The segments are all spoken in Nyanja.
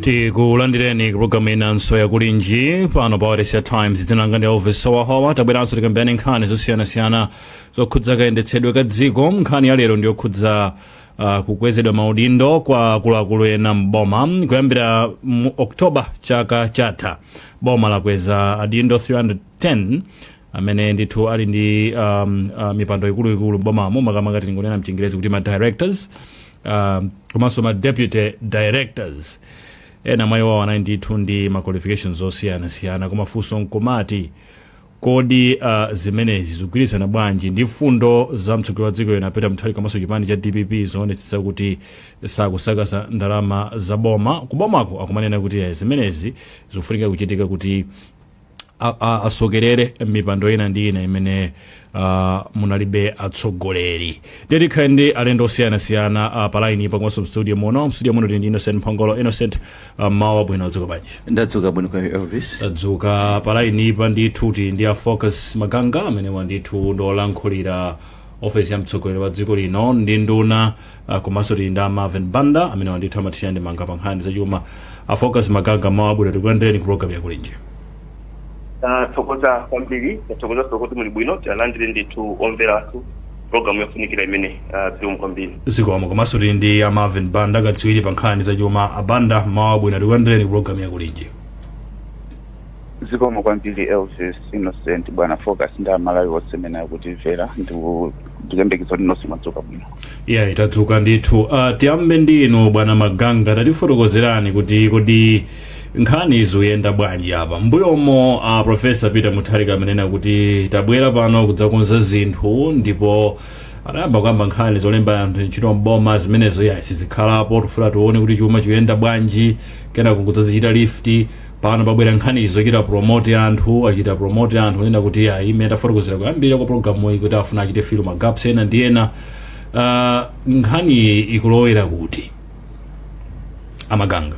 tikulandireni kupulogalamu inanso yakulinji pano pa wailesi ya times dzina langa ndi elvis howahowa tabweranso tikambirane nkhani zosiyanasiyana zokhudza kayendetsedwe ka dziko nkhani ya lero ndiyokhudza uh, kukwezedwa maudindo kwa akuluakulu ena mboma kuyambira mu oktoba chaka chatha boma lakweza adindo 310 amene ndithu ali ndi um, uh, mipando ikuluikulu mbomamo makamaka tingonena mchingerezi kuti ma directors uh, komanso ma deputy directors ena mwa iwo anali ndithu ndi ma qualifications osiyanasiyana koma funso nkumati kodi uh, zimenezi zikugwirizana bwanji ndi mfundo za mtsogoleri wa dziko lino a peter mutharika komanso chipani cha dpp zoonetsetsa kuti sakusakaza ndalama za boma kubomako akumanena kuti eh, zimenezi zikufunika kuchitika kuti a- a- asokerere mmipando ina ndi ina imene uh, munalibe atsogoleri nde tikhale ndi alendo osiyanasiyana uh, pa line pa komanso mstudio muno mstudio muno tili ndi innocent mphongolo innocent uh, mmawa wabwino adzuka bwanji ndadzuka bwino kaya elvis tadzuka pa line pa ndithu tili ndi a focus maganga amenewa ndithu ndiolankhulira ofesi ya mtsogoleri wa dziko lino ndi nduna Ah, komanso tili ndi a marvin banda amenewa ndithu amathirira ndemanga pa nkhani zachuma a focus maganga mmawa wabwino tikulandireni ku program yakulinji tathokoza kwambiri tathokozanso kuti muli bwino tilandire ndithu omvera athu programu yofunikira imeneyi ah, zikomo kwambiri zikomo komanso tili ndi a marvin banda katswiri pa nkhani zachuma a banda mmawa wabwino tikulandireni ku program yakulinji Zikomo kwambiri Elvis Innocent bwana Focus ndi amalawi onse amene akutimvera ndikuyembekeza kuti nonse mwadzuka bwino eya tadzuka ndithu uh, tiyambe ndi inu bwana maganga tatifotokozerani kuti kodi nkhani zikuyenda bwanji apa mmbuyomo uh, profesa peter mutharika amanena kuti tabwera pano kudzakonza zinthu ndipo anayamba kukamba nkhani zolemba anthu ntchito mboma zimenezo eya sizikhalapo tifuna tione kuti chuma chikuyenda bwanji kenako kudzazichita lift Pano pabwera nkhani zochita promote anthu, achita promote anthu onena kuti ayi imene ndafotokozera koyambirira kwa program iyi kuti afuna achite fill ma gaps ena ndi ena. Uh, nkhani iyi ikulowera kuti a maganga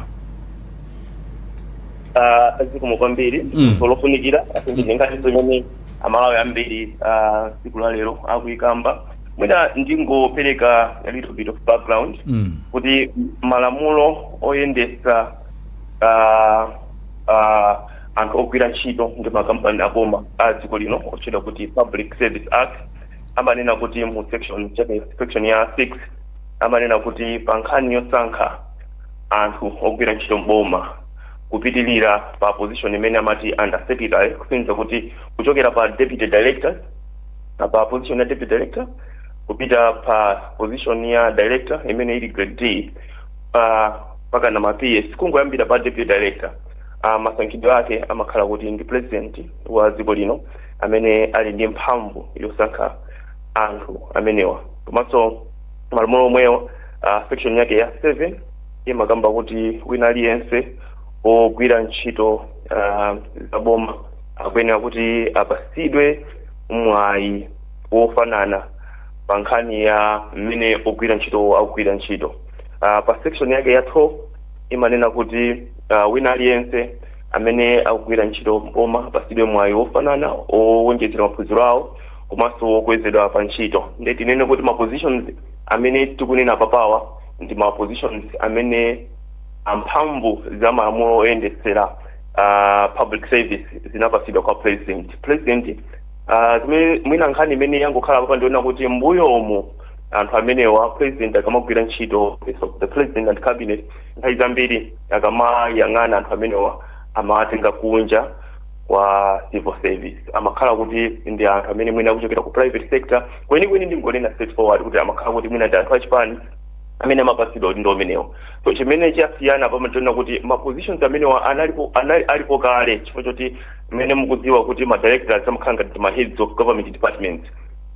Ah, zikomo kwambiri Mm. funso lofunikira ndi nkhani imene amalawi ambiri ah, tsiku la lero akuyikamba mwina ndingopereka a little bit of background Mm. kuti malamulo oyendetsa ah, ah, anthu ogwira ntchito ndi makampani aboma a dziko lino otchedwa kuti public service act amanena kuti mu section chapter- section ya 6 amanena kuti pa nkhani yosankha anthu ogwira ntchito mboma kupitilira pa position imene amati under secretary kusonyeza kuti kuchokera pa deputy director na pa position ya deputy director kupita pa position ya director imene ili grade D mpakana ma PS kungoyambira pa deputy director uh, masankhidwe ake amakhala kuti ndi president wa dziko lino amene ali ndi mphamvu yosankha anthu amenewa komanso malamulo omwewo section yake ya 7 imakamba kuti wina aliyense ogwira ntchito uh, za boma akuyenera kuti apasidwe mwayi wofanana pa nkhani ya mmene ogwira ntchito akugwira ntchito uh, pa section yake ya 12 imanena kuti uh, wina aliyense amene akugwira ntchito m'boma apasidwe mwayi wofanana owonjezera maphunziro awo komanso wokwezedwa pa ntchito nde tinene kuti ma positions amene tikunena papawa ndi ma positions amene mphamvu za malamulo oyendetsera uh, public service zinapasidwa kwa president president uh, zimene mwina nkhani imene yangokhala papa ndi yonena kuti mbuyomu anthu amenewa president akamagwira ntchito office of the president and cabinet nthawi zambiri akamayang'ana anthu amenewa amawatenga kunja kwa civil service amakhala kuti ndi anthu amene mwina akuchokera ku private sector kwenikweni ndingonena straight forward kuti amakhala kuti mwina ndi anthu achipani amene amapatsidwa maudindo amenewa so chimene chasiyana pano nchonena kuti ma positions amenewa alipo kale chifukwa choti mmene mukudziwa kuti ma directors amakhala ngati ma heads of government departments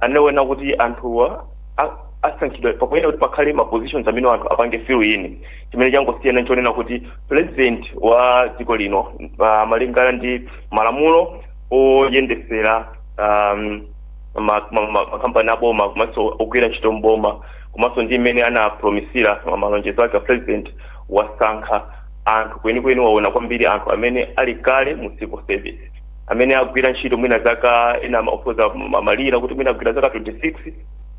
anawona kuti anthuwa a- asankhidwa pakuyenera kuti pakhale ma positions amene anthu apange fill in chimene changosiyana nchonena kuti president wa dziko lino uh, malingana ndi malamulo oyendesera um, ma- ma- ma- makampani aboma komanso ogwira ntchito mboma komanso ndi mmene anapromisira ma- malonjezo ake a president wasankha anthu kwenikweni waona kwambiri anthu amene ali kale mu civil service amene agwira ntchito mwina zaka ena opyoza malire kuti mwina agwira zaka 26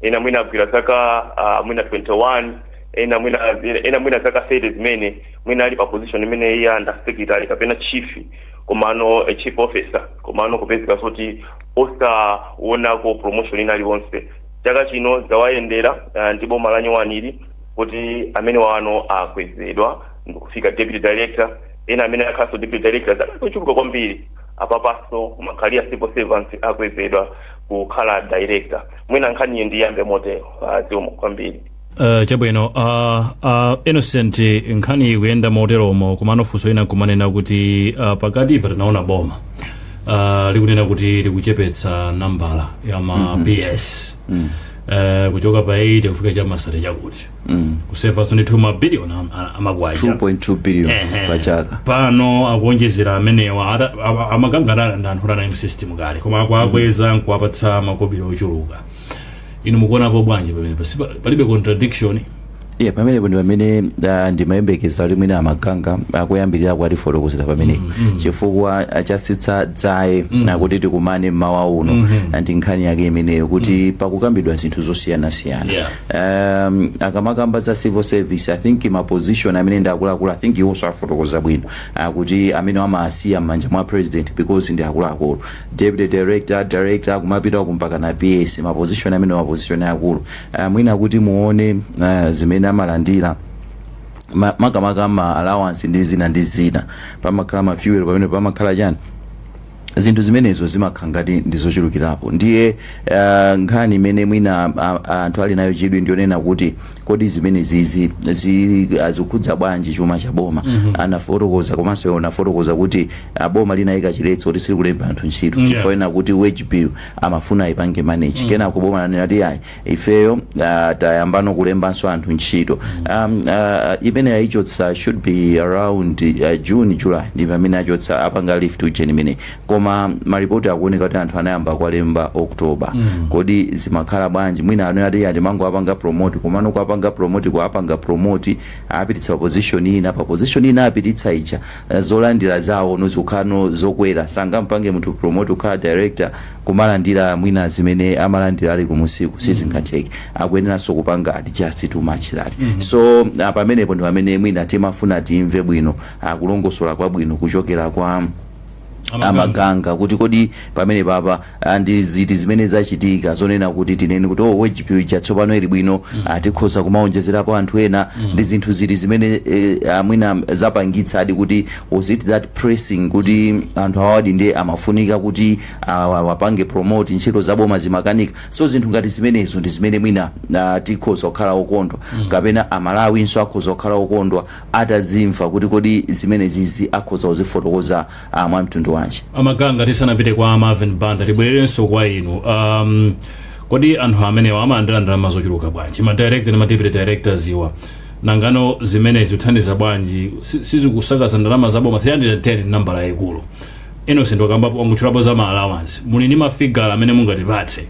ena mwina agwira zaka uh, mwina 21 ena mwina ena mwina zaka 30 zimene mwina ali pa position imene ya under secretary kapena chief komano a chief officer komano kupezeka kuti osaonako promotion ina iliyonse chaka chino zawayendera uh, ndi boma la nyowani ili kuti amenewa ano akwezedwa ndikufika deputy director ena amene akhalanso deputy director zaka zochuluka kwambiri apapaso ma career civil servants akwezedwa kukhala director mwina nkhaniyi ndiyambe motero zikomo kwambiri Uh, chabwino uh, uh, innocent nkhani ikuyenda moteromo komano funso lina nkumanena kuti uh, pakatipa tinaona boma uh, likunena kuti likuchepetsa nambala ya ma mm -hmm. PS mm -hmm. uh, kuchoka pa 80 kufika cha ma 30 chakuti kusevanso ndithu mabiliyoni am- a- amakwacha 2.2 billion Ehe. pa chaka pano akuonjezera amenewa ata- ama- amakanganana ndi anthu otanayi msystem kale koma akuakweza nkuwapatsa makobiri ochuluka inu mukuonapo bwanji pamene Pasi- pa- palibe contradiction iye pamenepo ndi pamene ah, ndimayembekeza kuti mwina a Maganga akuyambirirako atifotokozera pamenepo chifukwa chatsitsa dzaye kuti tikumane mmawa uno ndi nkhani yake imeneyo kuti pakukambidwa zinthu zosiyanasiyana Yeah. um, akamakamba za civil service i think ma position amene ndi akuluakulu i think iwonso afotokoza bwino kuti amene amasiya m'manja mwa president because ndi akuluakulu deputy director director kumapita kumpaka na ps ma position amene ma position akulu uh, mwina kuti muone uh, zimene amalandira ma- makamaka ma allowance ndi zina ndi zina pamakhala ma fuel pamene pamakhala chani zinthu zimenezo zimakhala ngati ndi zochulukirapo ndiye uh, nkhani imene mwina anthu ali nayo chidwi ndi yonena kuti kodi zimenezizi zikukhudza bwanji chuma cha boma mm -hmm. anafotokoza komanso iwo anafotokoza kuti uh, boma linayika chiletso kuti silikulemba anthu ntchito mm -hmm. chifukwa chonena kuti wage bill amafuna ipange manage mm -hmm. kenako boma lanena ti ayi ifeyo uh, tayambano kulembanso anthu ntchito um, uh, imene ayichotsa should be around uh, june july ndi pamene achotsa apanga lift ujeni imeneyi koma maripoti akuoneka kuti anthu anayamba kuwalemba october mm. kodi zimakhala bwanji mwina anena ati ati amangowapanga promote komano kuapanga promote kuapanga promote awapititsa pa position ina pa position ina awapititsa ija zolandila zawo no zikukhala no zokwera sangampange munthu promote kukhala director kumalandila mwina zimene amalandila ali kumunsiku sizingatheke akuyeneranso kupanga adjust to match that so ah, pamenepo ndi pamene mwina timafuna timve bwino ah, kulongosola kwabwino kuchokera kwa a Maganga kuti kodi pamenepapa Ah, ndi ziti zimene zachitika zonena kuti tinene kuti oh, wage bill ija tsopano ili bwino ah, tikhoza kumaonjezerapo anthu ena ndi zinthu ziti zimene eh, mwina zapangitsadi kuti was it that pressing kuti anthu awadi ndiye amafunika kuti awa- awapange promote ntchito zaboma zimakanika so zinthu ngati zimenezo ndi zimene mwina ah, tikhoza kukhala okondwa kapena amalawinso akhoza kukhala okondwa atazimva kuti kodi zimenezizi akhoza kuzifotokoza ah mwa mtundu wanji a Maganga tisanapite kwa marvin banda tibwererenso kwa inu um, kodi anthu amenewa amalandira ndalama zochuluka bwanji ma director ndi ma deputy directors awa nangano zimenezi zikuthandiza bwanji Si- sizikusakaza ndalama za boma 310 ndi nambala yayikulu innocent wakambapo wangotchulapo za ma allowance muli ndi mafigala amene mungatipatse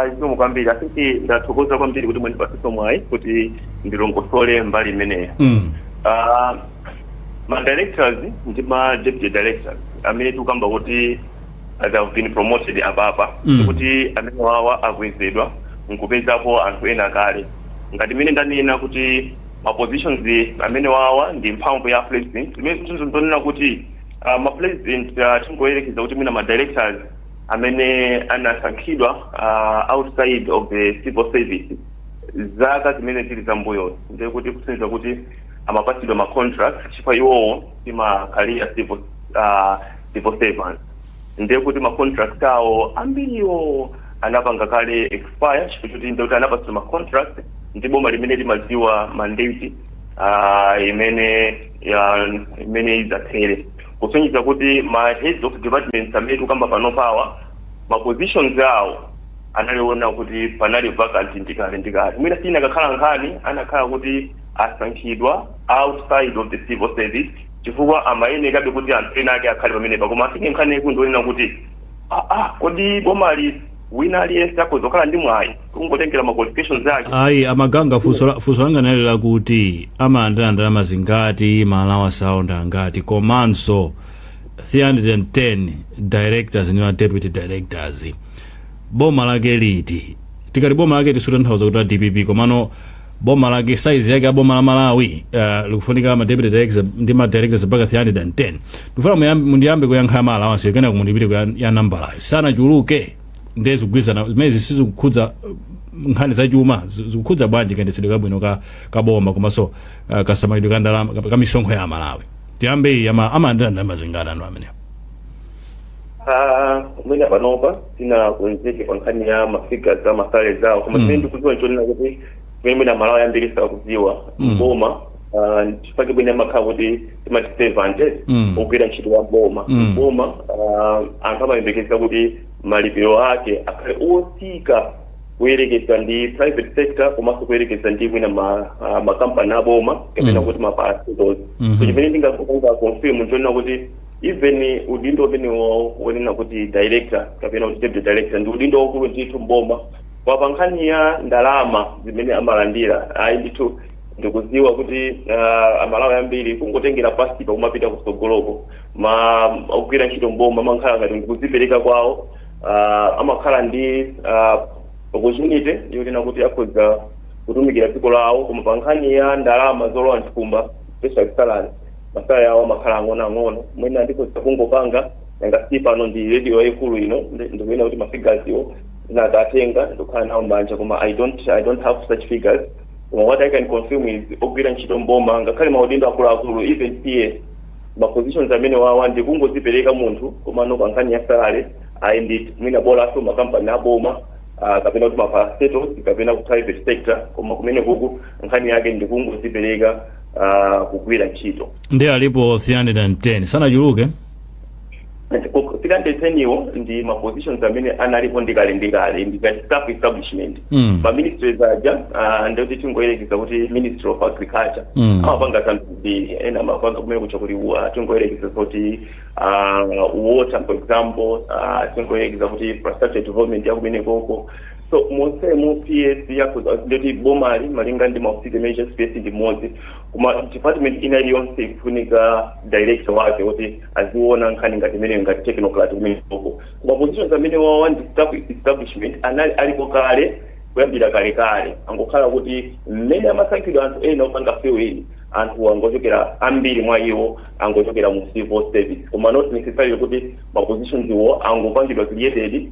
zikomo kwambiri asisi ndathokoza kwambiri kuti mwandipatsanso mwayi kuti ndilongosole mbali imeneyo mm. Ah, ma directors ndi ma deputy directors amene tikukamba kuti they have been promoted apapa Mm. kuti amene wawa akwezedwa nkupezapo anthu ena kale ngati mmene ndanena kuti ma positions amene wawa ndi mphamvu ya president imene zinthu zonena kuti uh, ma president uh, tingoyerekeza kuti mwina ma directors amene anasankhidwa uh, outside of the civil service zaka zimene zili zambuyo ndikuti kusonyeza kuti amapatsidwa ma contract chifukwa iwowo si ma career civil, uh, civil servants ndiye kuti ma contract awo ambiriwo anapanga kale expire chifukwa choti ndikuti anapatsidwa ma contract ndi boma limene limadziwa kuti mandate uh, imene uh, imene idzathere kusonyeza kuti ma heads of departments amene tikukamba pano pawa ma positions awo anali onena kuti anali vacant ndikale ndikale mwina siyikanakhala nkhani akanakhala kuti asankhidwa outside of the civil service chifukwa amayenekabe kuti anthu ena ake akhale pamenepa koma I think nkhani yaikulu ndi yonena kuti aa kodi bomali wina aliyense akhoza kukhala ndi mwayi kungotengera ma qualifications ake ayi amaganga funso la- funso langa nali lakuti amalandira ndalama zingati ma allowance awo ndi angati komanso 310 directors ndi ma deputy directors boma lake liti tikati boma lake sitikutanthauza kuti la dpp komano boma lake size yake ya boma la malawi uh, likufunika ma deputy directors ndi ma directors mpaka 310 ndifuna muyambe- mundiyambe kuyankha ma allowance kenako mundipite kuya- ya nambalayo sanachuluke ndiye zikugwirizana zimenezi sizikukhudza uh, nkhani za chuma zi- zikukhudza bwanji kayendetsedwe kabwino ka, ka boma komanso uh, kasamalidwe ka ndalama ka- ka misonkho ya amalawi tiyambe iyi ama- amalandira ndalama zingati anthu amenewo Ah, mwina panopa sinakonzeke pa nkhani ya mafigures a ma salary awo koma Mm. chimene ndikudziwa nchonena kuti chimene mwina amalawi ambiri sakudziwa Mm. mboma ah, chifukwa chimene amakhala kuti timati servant Mm. wogwira ntchito wa mboma Mm. mboma ah, anthu amayembekeza kuti malipiro ake akhale otsika kuyerekeza ndi private sector komanso kuyerekeza ndi mwina ma- ah, makampani aboma kapena Mm. kuti ma parastatals Mhm. so chimene ndingapange confirm nchonena kuti even udindo umenewo wonena kuti director kapena kuti deputy director ndi udindo waukulu ndithu mboma koma pa nkhani ya ndalama zimene amalandira ayi ndithu ndikudziwa kuti uh, amalawi ambiri kungotengera pansipa kumapita kutsogoloko amagwira ntchito mboma amakhala ngati ndikudzipereka kwawo uh, amakhala ndi uh, opportunity yonena kuti akhoza kutumikira dziko lawo koma pa nkhani ya ndalama zolowa mthumba especially salary masalary awo amakhala ang'onoang'ono mwina ndikhoza kungopanga nanga si pano ndi radio yayikulu ino ndi- ndikuyenera kuti mafigazi wo ndinakatenga ndikukhala nawo m'manja koma i don't i don't have such figures koma what i can confirm is ogwira ntchito m'boma ngakhale maudindo akuluakulu even ps ma positions amene wawa ndi kungozipereka munthu koma no pankhani ya salary ayi ndi mwina bolaso makampani aboma ah, kapena kuti maparastatals kapena ku private sector koma kumene kuku nkhani yake ndi kungozipereka ah, kugwira ntchito ndi alipo 310 sanachuluke 310 wo ndi ma positions amene analipo ndikale ndikale ngati staff establishment Mm. ma ministries aja ah, ndikuti tingoyerekeza kuti ministry of agriculture Mm. amapanga zambiri zambiri ena amapanga kumene kucha kuti wa- tingoyerekeza kuti ah, water for example ah, tingoyerekeza kuti infrastructure development yakumene koko So monsemo PS yakhoza ndiye kuti boma lili malinga ndi maofisi imene chonse PS ndi mmodzi koma department ina iliyonse ikufunika director wake kuti aziona nkhani ngati imeneyo ngati technocrat kumeneko koma positions amene wawa ndi staff establishment anali alipo kale kuyambira kalekale kungokhala kuti mmene amasankhidwa anthu ena opanga fill in anthu angochokera ambiri mwa iwo angochokera mu civil service koma not necessarily kuti ma positions wo angopangidwa created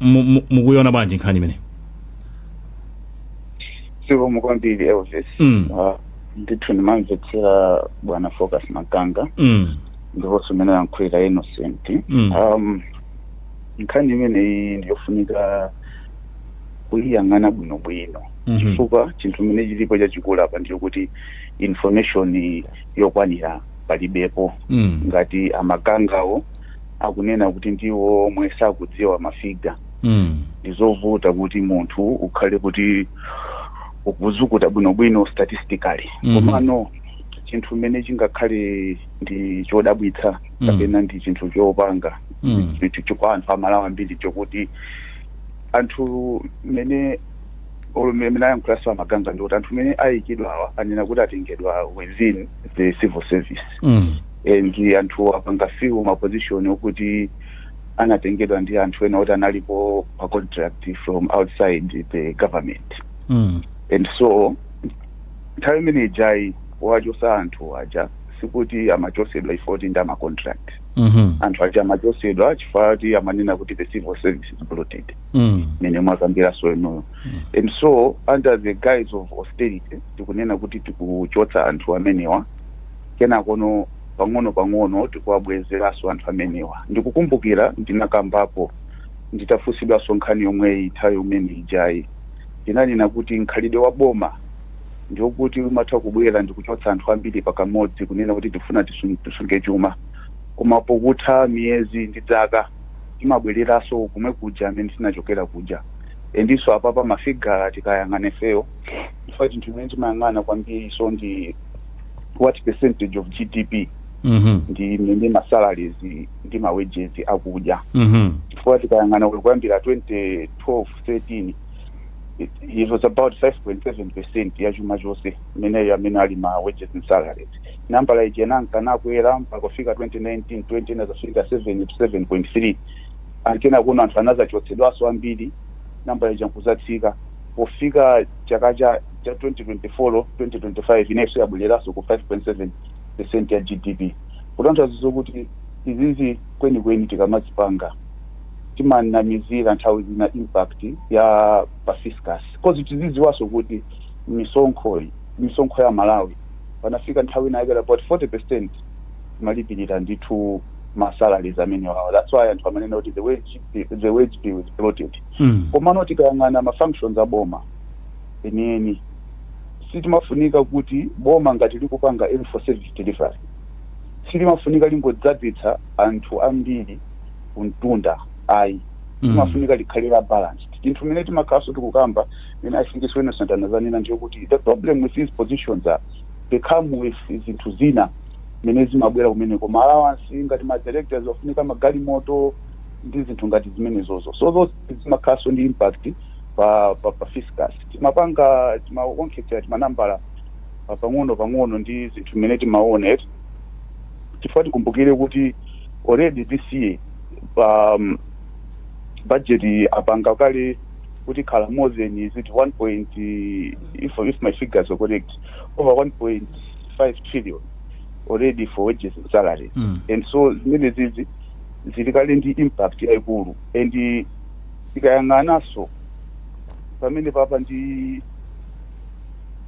mu- mu- mukuiona bwanji nkhani imeneyi zikomo kwambiri elvis Mm. Ah, ndithu ndimamvetsera bwana focus maganga mm. ndiponso mmene wayankhulira innocent Mm. um, nkhani imeneyi ndiyofunika kuyiyang'ana bwinobwino Mhm. chifukwa chinthu chimene chilipo chachikulu apa ndiyo kuti information yokwanira palibepo Mm. ngati a magangawo akunena kuti ndiwo omwe sakudziwa mafiga mm. ndizovuta kuti munthu ukhale kuti ukuzukuta bwinobwino statistically Mhm. komano chinthu chimene chingakhale ndi chodabwitsa Mm. kapena ndi chinthu chopanga Mm. chinthu cho- kwa anthu aMalawi ambiri chokuti anthu mmene olo mmene ayankhulanso a maganga ndi kuti anthu amene ayikidwawa anena kuti atengedwa within the civil service Mm. and anthuwo apanga fill ma position okuti anatengedwa ndi anthu ena oti analipo pa contract from outside the government mm. and so nthawi imene ija yowachotsa anthu aja sikuti amachotsedwa chifukwa choti ndi ama contract mm-hmm. anthu aja amachotsedwa chifukwa choti amanena kuti the civil service is bloated mm. mmene mwakambiranso inuyo and so under the guise of austerity tikunena kuti tikuchotsa anthu amenewa kenakono pang'onopang'ono tikuwabwezeranso anthu amenewa. Ndikukumbukira ndinakambapo nditafunsidwanso nkhani yomweyi nthawi imene ijayi. Ndinanena kuti mkhalidwe wa boma ndi wokuti umatha kubwera ndi kuchotsa anthu ambiri pakamodzi kunena kuti tikufuna tisu- tisunge chuma koma pokutha miyezi ndi dzaka timabwereranso komwe kuja amene tinachokera kuja endinso apapa mafigaz tikayang'ana ifeyo chifukwa chinthu chimene timayang'ana kwambiriso ndi what percentage of gdp Mhm. ndi imene ma salaries ndi ma wages akudya Mhm. chifukwa tikayang'ana kuyambira 2012 13 it, it was about 5.7 percent ya chuma chonse imeneyo amene ali ma wages and salaries nambala ija inanka nakwera mpaka kufika 2019 20 inazafika 7 to 7.3 kenakono anthu anazachotsedwaso ambiri nambala ija nkuzatsika pofika chaka cha cha 2024 2025 inenso yabwereranso ku 5.7 percent ya GDP kutanthauza zokuti izizi kwenikweni tikamazipanga timanamizira nthawi zina impact ya pa fiscus cause tizidziwanso kuti misonkho misonkho ya aMalawi panafika nthawi inakwera about 40 percent imalipirira ndithu ma salaries amene wawa that's why anthu amanena kuti the wage the wage bill is bloated Mm. komano tikayang'ana ma functions a boma enieni sitimafunika kuti boma ngati likupanga even for service delivery silimafunika lingodzadzitsa anthu ambiri kumtunda ayi Mm. limafunika likhale la balanced chinthu chimene timakhalanso tikukamba chimene i think is Innocent anazanena ndi yokuti the problem with these positions are they come with zinthu zina zimene zimabwera kumeneko ma allowance ngati ma directors amafunika magalimoto ndi zinthu ngati zimenezozo so those zimakhalanso ndi impact pa pa, pa fiscus timapanga timaonkhetsera timanambala pa- pang'ono pang'ono ndi zinthu zimene timaona eti chifukwa tikumbukire kuti already this year pa um, budget apanga kale kuti ikhala more than is it 1 point if, if my figures are correct over 1.5 trillion already for wages and salary Mm. and so zimene zizi zili kale ndi impact yaikulu and tikayang'ananso pamenepapa ndi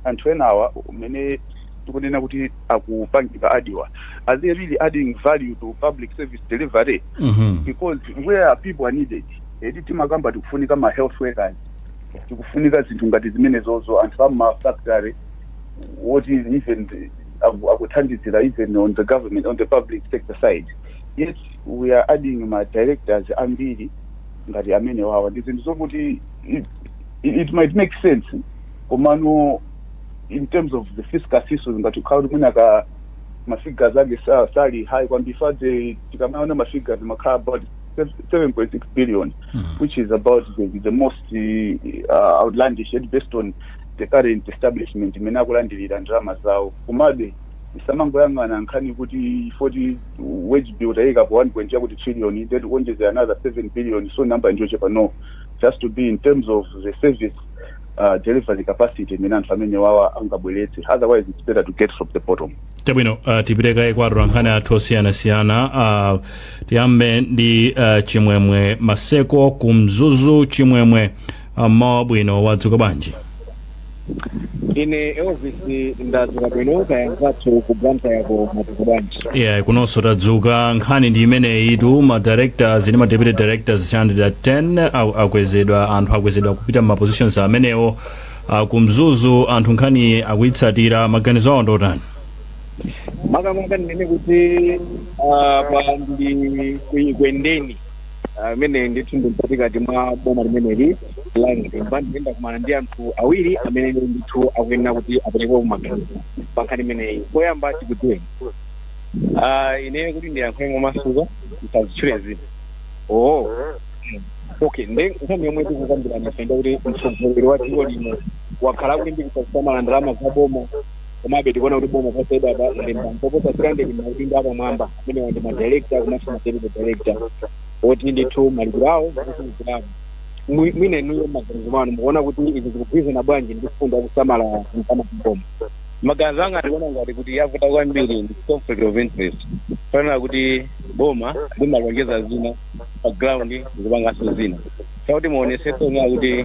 anthu enawa amene tikunena kuti akupangika add-wa are they really adding value to public service delivery Mhm. because where are people are needed eti timakamba tikufunika ma health workers tikufunika zinthu ngati zimenezozo anthu ama factory what is even the- aku- akuthandizira even on the government on the public sector side yet we are adding ma directors ambiri ngati amenewawa ndi zinthu zokuti it, it might make sense komano in terms of the fiscal issues ngati kukhala kuti mwina ka mafigures ake sa- sali high kwambiri fade tikamaona mafigures amakhala about 7.6 billion which is about the, the most uh, outlandish yet based on the current establishment imene akulandirira ndalama zawo komabe Tisamangoyang'ana nkhani kuti poti wage bill taika pa 1 point chakuti trillion ndiye tikuonjezera another 7 billion so number ndiyochepa no it has to be in terms of the service uh, delivery capacity imene anthu amenewawa angabweretse otherwise it's better to get from the bottom chabwino uh, tipite kaye kwa atolankhani athu osiyanasiyana uh, tiyambe ndi uh, chimwemwe maseko ku mzuzu chimwemwe mmawa wabwino wadzuka bwanji ine elvis ndadzuka bwino kaya mzathu ku blantyre ko mwadzuka bwanji yeah kunonso tadzuka nkhani ndi imeneyitu ma directors ndi ma deputy directors 310 au- akwezedwa anthu akwezedwa kupita mma positions amenewo Ah, ku mzuzu anthu nkhani akuyitsatira maganizo awo ndotani makamaka ndinene kuti ah, pano ndili ku ekwendeni amene ndithu ndi mkatikati mwa boma limeneli la mzimba ndipo ndakumana ndi anthu awiri amene ndithu akuyenera kuti aperekepo maganizo pa nkhani imeneyi poyamba tikudziweni Ah, ine kuti ndiyankhe momasuka musanditchule dzina oo okay nde nkhani yomwe tikukambirana ife ndi yakuti mtsogoleri wa dziko lino wakhala akulimbikitsa kusamala ndalama za boma komabe tikuona kuti boma posachedwapa lalemba oposa 300 maudindo apamwamba amene ndi madirekta komanso madeputy direkta oti ndithu malipiro awo akuchulukirapo Mwi- mwina inuyo mmaganizo mwanu mukuona kuti izi zikugwirizana bwanji ndi mfundo yakusamala ndalama ku boma maganizo anga ndikuona ngati kuti yavuta kwambiri ndi conflict of interest chonena kuti boma limalonjeza zina pa ground likupanganso zina chakuti muonesese kunena kuti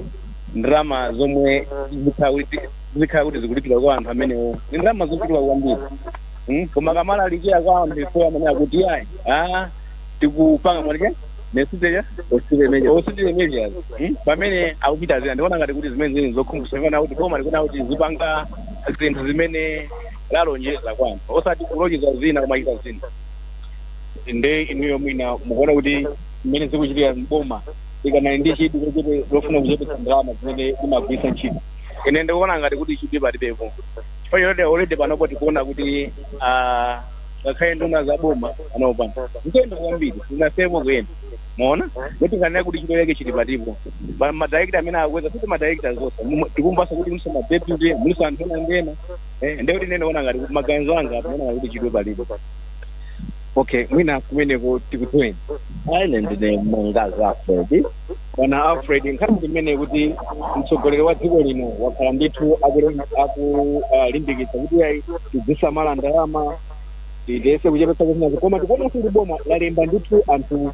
ndalama zomwe zikhala kuti zikulipira kwa anthu amenewo ndi ndalama zochuluka kwambiri Mm, koma akamalalikira kwa anthu ife amanena kuti ayi ah, tikupanga mwanike nesiteja austerity measures Mm, pamene akuchita zina ndikuona ngati kuti zimene zili zokhumudwitsa chonena kuti boma likuyenera kuti lizipanga zinthu zimene lalonjeza kwa anthu osati kulonjeza zina kumachita zina nde inuyo mwina mukuona kuti mmene zikuchitika boma ikanali ndi chidwi lochepe lofuna kuchepetsa ndalama zimene imagwiritsa ntchito ine ndikuona ngati kuti chidwi palibepo chifukwa choti already panopo tikuona kuti ah, ngakhale nduna za boma panopa nkuyenda kwambiri zinasiyako kuyenda muona kuti kanena kuti chidwi chake chili patipo Pa- madirekta amene akweza kuti madirekta zonse Mu- tikumvanso kuti mulinso madeputy mulinso anthu ena ndena Eh, ndiye kuti ine ndiona ngati kuti maganizo anga apa ona kuti chidwi palibe okay mwina kumeneko tikudziweni ine ndine mangazi alfred bwana alfred nkhani ndi imene kuti mtsogoleri wa dziko lino wakhala ndithu akulimbikitsa kuti ayi tidzisamala ndalama tiyese kuchepetsa kusinazo koma tikuonanso kuti boma lalemba ndithu anthu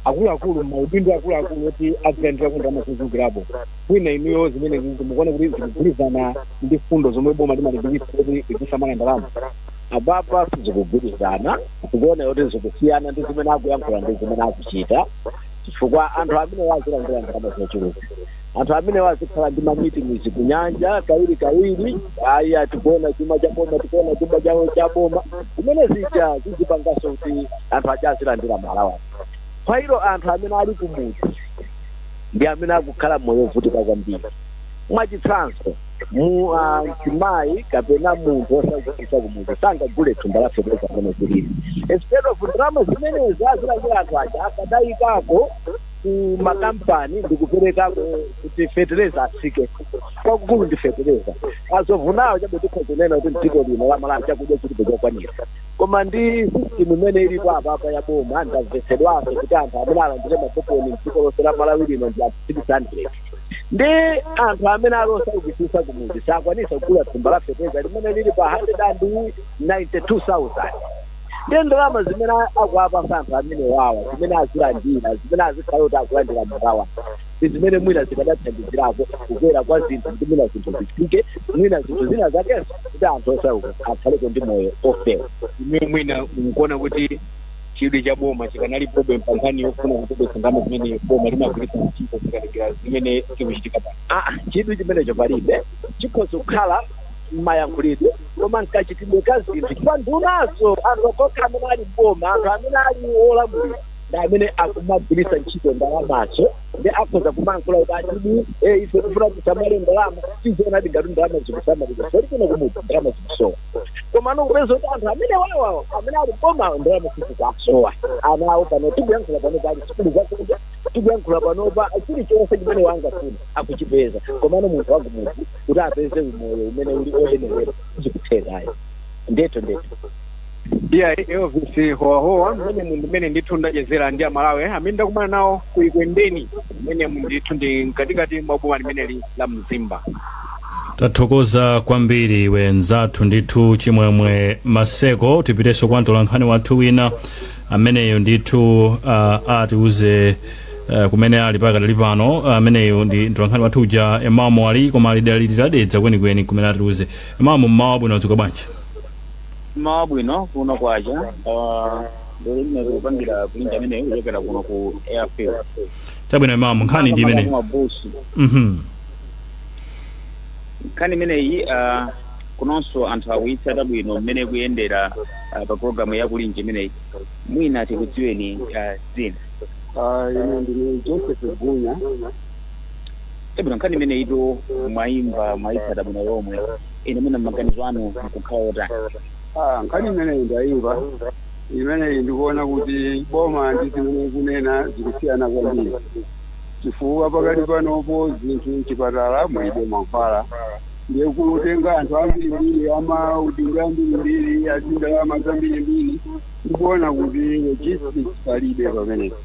akuluakulu maudindo akuluakulu oti azilandirako ndalama zochulukirapo mwina inuyo zimenezi mukuona kuti zikugwirizana ndi mfundo zomwe boma limalimbikitsa kuti tidzisamala ndalama apapa sizikugwirizana zikuona kuti zikusiyana ndi zimene akuyankhula ndi zimene akuchita chifukwa anthu amene azilandira ndalama zochuluka anthu amene azikhala ndi mamitings kunyanja kawiri kawiri ayi akuwononga chuma cha boma akuwononga chuma chawo cha boma zimene zija zizipanganso kuti anthu aja azilandira ma allowance anthu amene ali kumudzi ndi amene akukhala moyo wovutika kwambiri mwachitsanzo mu ah, mzimayi kapena munthu osaukitsitsa kumudzi sangagule thumba la feteleza pamene zilili instead of ndalama zimene azilandira anthu aja akadayikako ku makampani ndikuperekako kuti feteleza atsike kwakukulu ndi feteleza azovunawo chabe tikhoza kunena kuti mdziko lino la malawi chakudya chilipo chokwanira koma ndi system imene ilipo apapa ya boma ndamvetsedwanso kuti anthu amene alandire makoponi mdziko lonse la malawi lino ndi anthu 600 ndi anthu amene ali osaukitsitsa kumudzi sakwanitsa kugula thumba la feteleza limene lili pa 192,000 ndi ndalama zimene akuwapatsa anthu amenewawa zimene azilandira zimene azikhala kuti akulandira ma allowance ndi zimene mwina zikadathandizirako kukwera kwa zinthu kuti mwina zinthu zitsike mwina zinthu zina zakenso kuti anthu osauka akhaleko ndi moyo ofewa ine mwina mukuona kuti chidwi cha boma chikanalipobe pa nkhani yofuna kuchepetsa ndalama zimene boma limagwiritsa ntchito tikatengera zimene zikuchitika pano aa chidwi chimenecho palibe chikhoza kukhala mmayankhulidwe koma mkachitidwe ka zinthu chifukwa ndunazo anthu okhaokha amene ali mboma anthu amene ali olamulira ndi amene akumagwiritsa ntchito ndalamazo ndi akhoza kumankhula kuti aa chidwi eh, ife tifuna kusamala ndalama tiziona ngati ndalama zikusamalidwa zoti kuno kumudzi ndalama zikusowa komano kupeza kuti anthu amenewawa amene ali mbomawo ndalama sizikusowa ana awo pano tikuyankhula pano ali sukulu zakunja tikuyankhula panopa chilichonse chimene angafune akuchipeza komano munthu wakumudzi kuti apeze umoyo umene uli oyenerera sizikutheka ayi ndetu ndetu iya elvis howahowa mmene ndithu mmene ndithu ndachezera ndi amalawi amene ndakumana nawo ku ekwendeni mmene ndithu ndi mkatikati mwa boma limeneli la mzimba tathokoza kwambiri iwe mzathu ndithu chimwemwe maseko tipitenso kwa mtolankhani wathu wina ameneyo ndithu uh, atiuze uh, kumene ali pakadali pano uh, ameneyo ndi mtolankhani wathu uja emamu ali koma ali dali titadedza kwenikweni kumene atiuze emamu mmawa wabwino mwadzuka bwanji mmawa wabwino kuno kwacha lero lino tikupangira kulinji amene kuchokera kuno ku airfield chabwino emamu nkhani ndi imeneyo mabusi mhm nkhani imeneyi ah, kunonso anthu akuyitsata bwino mmene ikuyendera ah, pa programu ya kulinji imeneyi mwina tikudziweni ah, dzina Ah, ine ndine joseph gunya chabwino nkhani imeneyitu mwayimva mwayitsata bwino lomwe inu mwina maganizo anu nkukhala otani Ah, nkhani imeneyi ndayimva imeneyi ndikuona kuti boma ndi zimene ikunena zikusiyana kwambiri chifukwa pakati panopo zinthu mchipatala mulibe mankhwala ndiye kutenga anthu ambirimbiri amaudindo ambirimbiri azindalama zambirimbiri ndikuona kuti logistics palibe pamenepo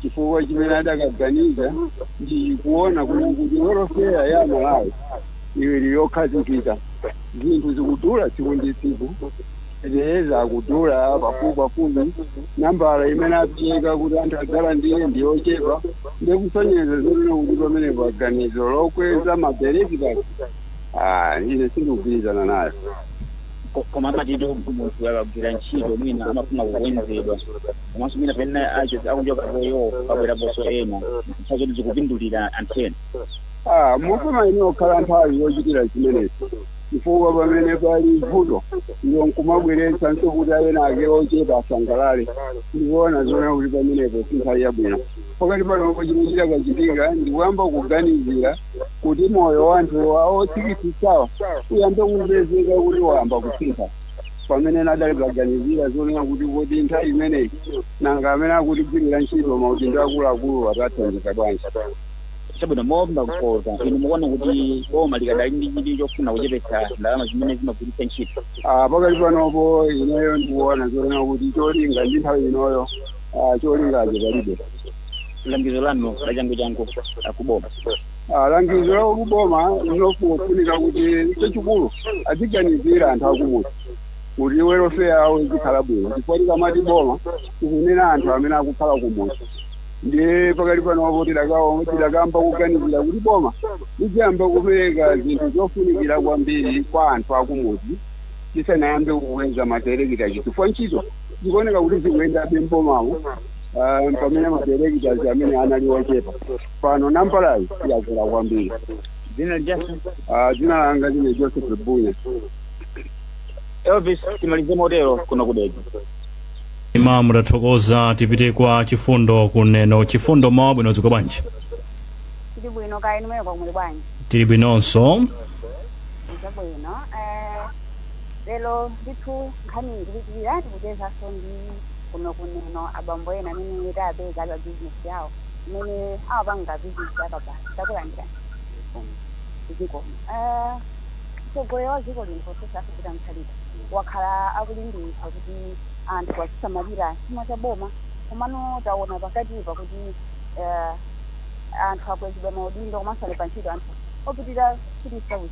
chifukwa chimene adakaganiza ndi kuona kuti kuti welfare ya amalawi ili yokhazikika zinthu zikudula tsiku ndi tsiku Feteleza akudula pafupipafupi, nambala imene apereka kuti anthu adzalandire ndi yochepa ndiye kusonyeza zonena kuti pamenepa ganizo lokweza mabenefits ah ine sindikugwirizana nayo. Ko, koma amatitu munthu akagwira ntchito mwina amafuna kukwezedwa komanso mwina pamene acho- akuchokapoyo pabweraponso ena nthawi zoti zikupindulira anthu ena. Ah, mufuna inu okhala nthawi yochitira zimenezi. chifukwa pamene pali vuto iwo nkumabweretsanso kuti ena ake ochepa asangalale ndikuona zonena kuti pamenepo si nthawi yabwino pakati panopo chimene chikadachitika ndikuyamba kuganizira kuti moyo wa anthu awo otsikitsitsawa uyambe kupezeka kuti wayamba kusintha pamene nadzaliganizira zonena kuti kuti nthawi imeneyi nanga amene akutigwirira ntchito maudindo akuluakulu tawathandiza bwanji chabwino mwachidule inu mukuona kuti boma likadali ndi chidwi chofuna kuchepetsa ndalama zimene zimagwiritsa ntchito Ah, pakati panopo ineyo ndikuona zonena kuti cholinga ndi nthawi inoyo ah, cholingacho palibe langizo lanu la changuchangu kuboma Ah, langizo la kuboma ndilofunika kuti chachikulu aziganizira anthu akumudzi kuti welfare yawo izikhala bwino chifukwa tikamati boma tikunena anthu amene akukhala kumudzi ndiye pakali panopo tidakawo- tidakamba kuganizira kuti boma lidzayamba kupereka zinthu zofunikira kwambiri kwa anthu akumudzi tisanayambe kukweza madayirekita chifukwa ntchito zikuoneka kuti zikuyendabe mbomamo ah, pamene madayirekita amene anali ochepa pano nambalayi yakula kwambiri dzina lijasa Ah, dzina langa ndine joseph bunya elvis timalize motero kuno ku Dedza Mmm tathokoza tipite kwa Chifundo ku Neno chifundo mmawa wabwino dziko bwanji tili bwino kaya inu mweko muli bwanji tili bwinonso izo bwino eh, lero ndithu nkhani ndikuchira tikuchezanso ndi kuno ku Neno abambo ena amene tapeza pa bizinesi yawo imene amapanga bizinesi yakabaza takulandirani zikomo Eh, mtsogoleri wa dziko lino profesa Peter Mutharika wakhala akulimbikitsa kuti anthu azisamalira chuma cha boma komano taona pakatipa kuti uh, anthu akwezedwa maudindo komanso alembedwa ntchito anthu opitirira 3000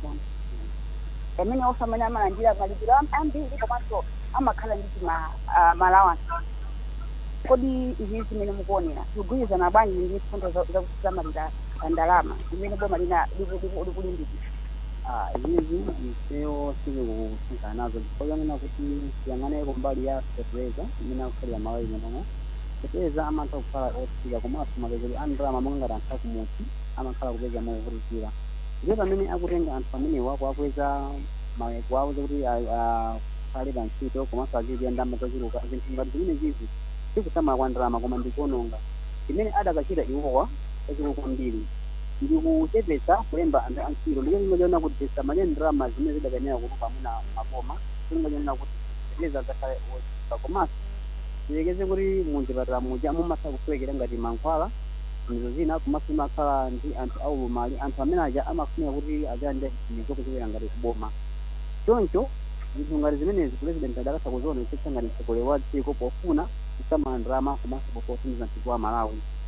amene onse amene amalandira malipiro am- ambiri komanso amakhala ndi zima uh, ma alawansi kodi izi zimene mukuonera zikugwirizana bwanji ndi mfundo za- za kusamalira ndalama zimene boma lina liku- liku- likulimbikitsa Ah, izi Iwo sindikusangalala nazo chifukwa chonena kuti tiyang'ane kumbali ya fetereza mmene akukhalira Malawi munomo, fetereza amatha kukhala otsika komanso mapezeledwe a ndalama monga ngati anthu akumudzi amakhala kupeza movutikira ndiye pamene akutenga anthu amenewa kuwakweza ma kuwalemba kuti akhale pa ntchito komanso azilipidwa ndalama zochuluka zinthu ngati zimenezizi sikusamala kwa ndalama koma ndikuononga chimene adakachita iwowa chachikulu kwambiri. ndi kuchepetsa kulemba anthu antchito ndi cholinga chonena kuti tisamalire ndalama zimene zidakayenera kutuluka mwina m'maboma cholinga chonena kuti fetereza adzakhale wotsika komanso tiyerekeze kuti mumzipatala muja mumatha kusowekera ngati mankhwala zinthu zina komanso timakhala ndi anthu aulumali anthu amene aja amafunika kuti adzalandire chithandizo kuchokera ngati kuboma choncho zinthu ngati zimenezi pulezidenti adakatha kuzionetsetsa ngati mtsogoleri wa dziko pofuna kusamala ndalama komanso pofuna kuthandiza mtundu wa Malawi.